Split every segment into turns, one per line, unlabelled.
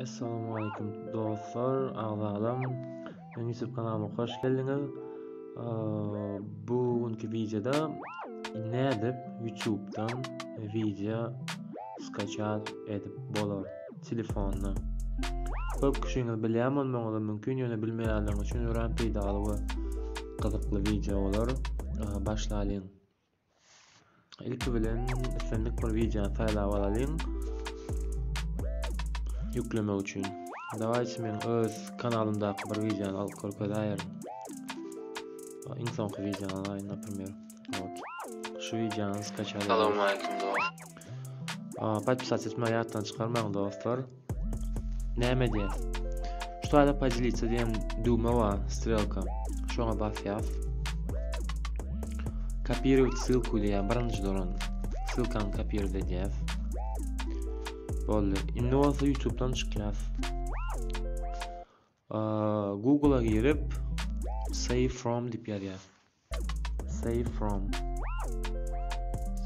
Essalowmaleýkum dostlar, agzalam! Meniň YouTube kanalyma hoş geldiňiz. Bu günki wideoda nädip YouTube-dan wideo skaçat edip bolar telefonyna. Köp kişiňiz bilýän bolmagyňyz mümkin, ýöne bilmeýänleriň üçin örän peýdaly we gyzykly wideo bolar. Başlaýyň. Ilki bilen islendik bir wideony saýlap alalyň. Ýüklemek üçin. Dawaýçy men öz kanalymdaky bir wideony alyp görkezäýerin. Iň soňky wideony alaýyn, naprimýer. Ot. Şu wideony skaçaly. Salam aýkym dost. Aa, podpisat etmäge ýatdan çykarmaň dostlar. Näme edýär? Şu taýda podelitsa diýen düwme bar, strelka. Şoňa basýas. Kopirowit ssylku diýýär, birinji duran. Ssylkany kopirowit edýäs. Boldy. Indi bolsa YouTube-dan çykýas. Google-a girip save from dip ýazýas. Save from.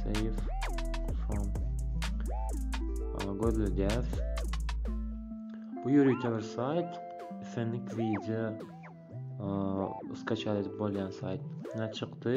Save from. Ana gözledýäs. Bu ýörite bir saýt. Senlik wideo skaçal edip bolýan saýt. Ne çykdy?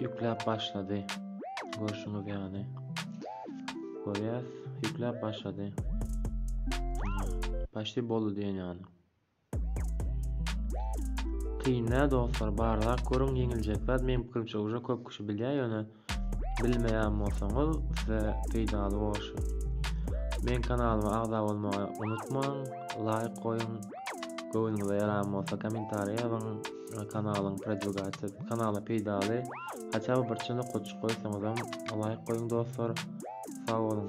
Ýükläp başlady. Görşüňiz ýaly. Görýäs, ýükläp başlady. Başly boldy diýen ýaly. Kynda dostlar, barlap görüň, ýeňiljek zat meň pikirimçe köp kişi bilýär, ýöne Bilmeýän bolsaňyz size peýdaly bolşy. Men kanalyma agza bolmagy unutmaň, laýk goýuň, göwnüňize ýaran bolsa kommentariý ýazyň, kanalyň prodwigasiýa kanala peýdaly haçan bir birçe nokatçyk goýsaňyzam laýk goýuň dostlar. Sag boluň.